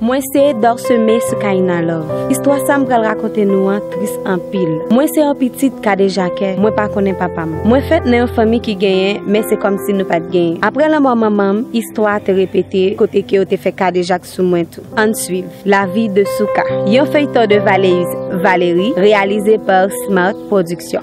Mwen se Dorseme Soukaina Love. Istwa sa m pral rakonte nou an tris anpil. Mwen se yon pitit kadejakè, mwen pa konnen papa m. Mwen fèt nan yon fanmi ki genyen, men se kòmsi nou pa t genyen. Aprè lanmò manman m, istwa a te repete kote ke yo te fè kadejak sou mwen tou. Ann swiv La vie de Souka, yon feyton de Valéus Valéry reyalize par Smart Production.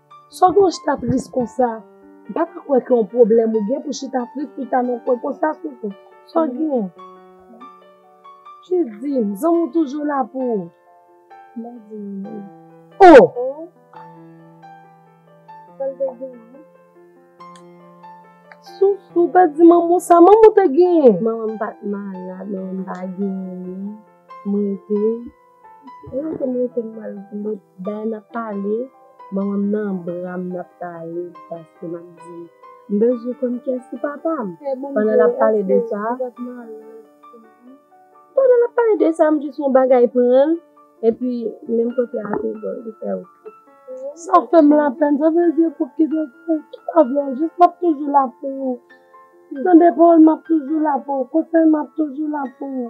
Solange ta tris konsa, m pa ka kwè ke yon pwoblèm ou gen pou chita tris pou ta nan kwen konsa Soso. Sa w gen? Jis di m, zanmi w toujou la pou ou. M pa di w non. Oh! Sa l te gen? Soso, w pa di manman w sa manman w te gen? Manman m pa t malad, manman m pa genyen, m rete. Mwen rete m rete m al vle dayè nap pale manmanm nan bram nap pale paske map di m bezwen konn kyès ki papam pandan lap pale de sa pandan lap pale de sa m jis wè yon bagay pranl epi menm kote a tou bon li fèw kri sa fèm lapèn sa vle di pou ki pou ki pa vle w jis map toujou la pou ou tande pawòl map toujou la pou ou konsèy map toujou la pou ou.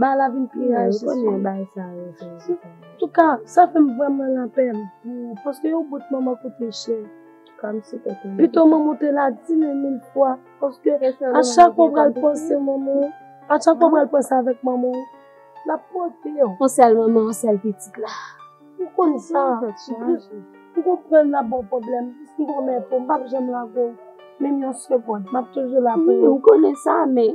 Ba la vin pi raj se sou mwen. An tou ka, sa fè m vrèman lapèn pou ou paske yon bout manman koute chè. Pito manman w te la dine mil fwa paske a chak fwa w pral panse manman w, a chak fwa w pral panse avèk manman w, l ap pote w. On sèl manman, on sèl pitit la. Ou konn sa. M konprann l ap ba w pwoblèm. M pwomèt ou m p ap janm lage w menm yon segonn. M ap toujou la pou ou. Ou konnen sa men.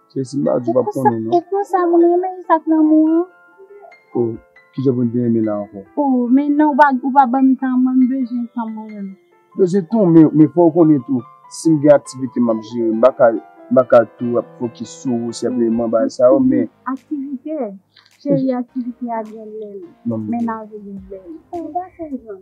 Se si m pa di w pap konnen non. E konsa moun renmen li sak lanmou an. Oh kijan pou n te renmen la ankò. Oh men non ou pa banm tan mwen m bezwen tan mwen menm. Bezwen tan w men fò w konnen tou si m gen aktivite map jere m paka m paka tou ap fokis sou ou senpleman bagay sa yo men. Aktivite cheri aktivite a gen lè l men lave gen lè l. Ou pa fè yon jan.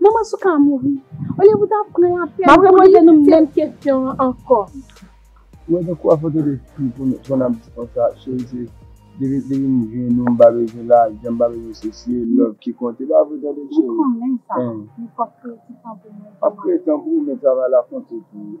Manman souka a mouri. Olye pou ta pran la pèn. Map repoze nou menm kesyon an ankò. Mwen gen kou a foto de fi pou nou pran nap di konsa cheri se depi depi m jwenn nou m pa bezwen lajan m pa bezwen sesi e love ki konte e pa vre tande cheri. Mwen konnen sa men fòk kreye ti tan pou mwen. Map kreye tan pou ou men travay la konte tou.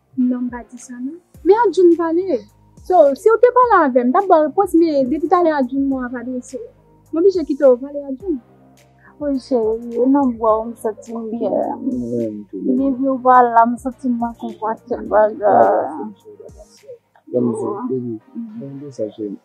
Nonm pa di sa non. Men Arjun pale! So, siw te pale avèm, m tap baw repons men depi talè Arjun mo a pa adrese w. M oblije kitew pale Arjun. Wi cheri, e nan bwa w m santim byen. Depi w pa la m santim manke anpil bagay.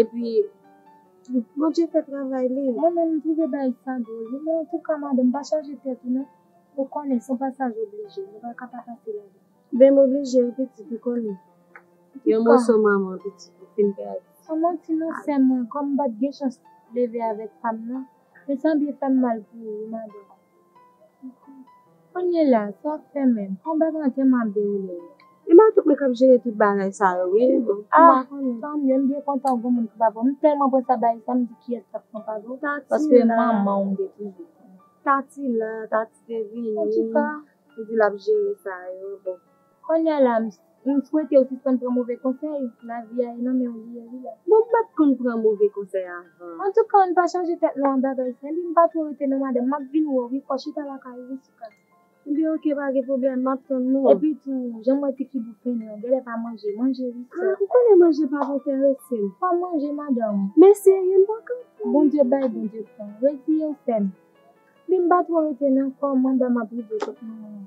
Epi tou Bondye fè travay li. Mwen menm m trouve bagay sa dwol wi men antouka madanm pa chaje tèt ou non ou konnen son pasaj oblije nou paka pa pase ladan. Bem oblije wi pitit ou konnen yon moso manman pitit ou fin pèdi. San manti non sèm mwen kòm m pat gen chans leve avèk pam nan men sa byen fèm mal pou ou wi madanm. Konnye la, sa ap fè menm. Kon bèk lan tèlman ap dewoule yo. E m ak mwen k ap jere tout bagay sa yo wi. Ah tanmieu m byen kontan gen moun ki pa vre m telman pran sa bay sa m di kiyes kap pran pa vre paske manman w m te toujou di. Tati la, Tati te vini, li di l ap jere sa yo. Konnya la m m swetew sispann pran move konsèy, lavi a e nan menw li ye wi la. Bon m pat konn pran move konsèy avan. Antouka ann pa chaje tèt nou ak bagay sa li m pa two rete non madanm map vin wè w wi fò chita lakay ou wi souka. Ebyen ok pa gen pwoblèm map tann nou. Epi tou janm wè ti figi w fennen an gèlè pa manje, manje wi sè. Ah ou konnen manje pap enteresem. Pa manje madanm. Men serye m paka pran. Bondye bay Bondye pran, reziyew sèm. Li m pa two rete nan kòm anba map rive kot manmanw.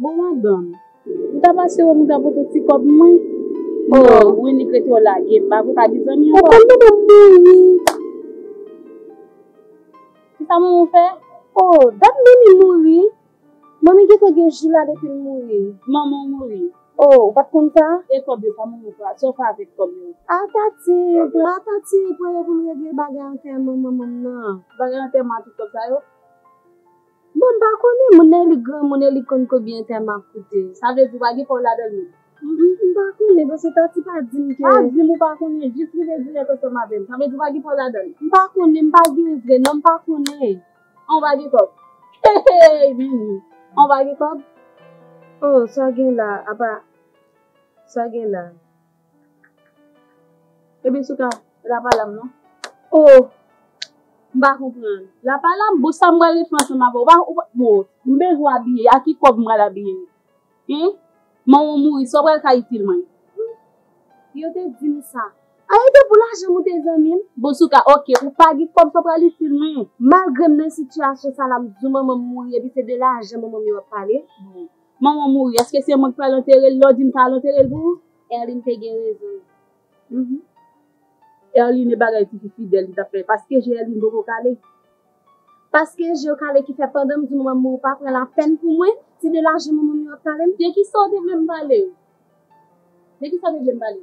Bon madanm, m ta pase wè m ou ta pote ti kòb mwen? Non, Winnie k rete yo lage, m pa vle pa gen zanmi ankò. Papa m ta pral mouri. Kisa manman w fè? Oh, dat Manmi mouri. Manmi gen tan gen jou la depi l mouri. Manman w mouri? Oh, ou pa t konn sa? E kòb yo, sa manman w fè? Sa w fè avèk kòb yo? A Tati, pran a Tati, pran yo pou n regle bagay antèman manman m nan. Bagay antèman a tout kòb sa yo? Bon m pa konnen moun nan li granmoun e li konn konbyen tèm ap koute sa vle di ou pa gen pa w ladan l menm. M pa konnen paske Tati pa di m ke. Pa di m ou pa konnen jis rive dirèk oswa m avè m sa vle di ou pa gen pa w ladan l. M pa konnen m pa gen vre non m pa konnen an ou pa gen kòb hehey men wi an ou pa gen kòb. Oh sa gen la apa sa gen la. Ebyen sou ka lapalam non. Oh m pa konprann. Lapalam bon sa m pral refè ansanm avèw ou pa bon m bezwen abiye a ki kòb m pral abiye hein manw mouri sa w pral ka itil mwen. Yo te dim sa. Ah e te pou lajan m ou te zanmim. Bon sou ka ok ou pa gen kòb sa w pral itil mwen. Malgrem nan sitiyasyon sa la m di ou manmanm mouri epi se de lajan manmanm yo ap pale. Manman mouri eske se mwen ki pral anterel lè w dim pa al anterel pou ou. Erline te gen rezon l. Erline e bagay tifi fidel li tap fè paske je Erline poko kale. Paske je w kale ki fè pandan m di manman m mouri w pa pran la pèn pou mwen se de lajan manman m yo ap pale m. De kisa w te vle m pale? De kisa w te vle m pale?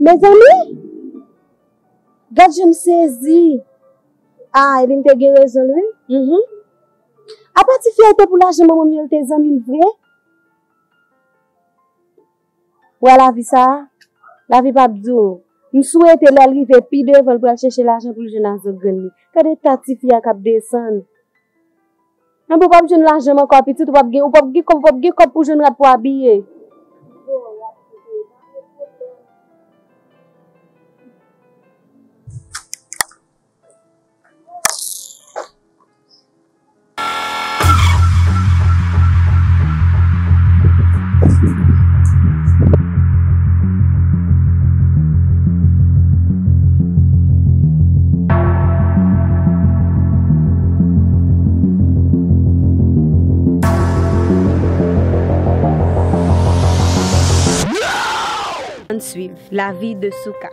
Mezanmi! Gad jan m sezi! A Aylin te gen rezon l wi. Hum-hum. Apa ti fi a te pou lajan manman m yo l te zanmi l vre? Wè lavi sa a? Lavi pa p di w. M swete lè l rive pi devan l pral chèche lajan pou l jwenn a zòt grann li. Gade ta ti fi a k ap desann. Anba ou pap jwenn lajanm ankò a pitit ou pap gen ou pap gen kòb ou pap gen kòb pou jwenn rad pou abiye. Ann swiv lavi de Souka.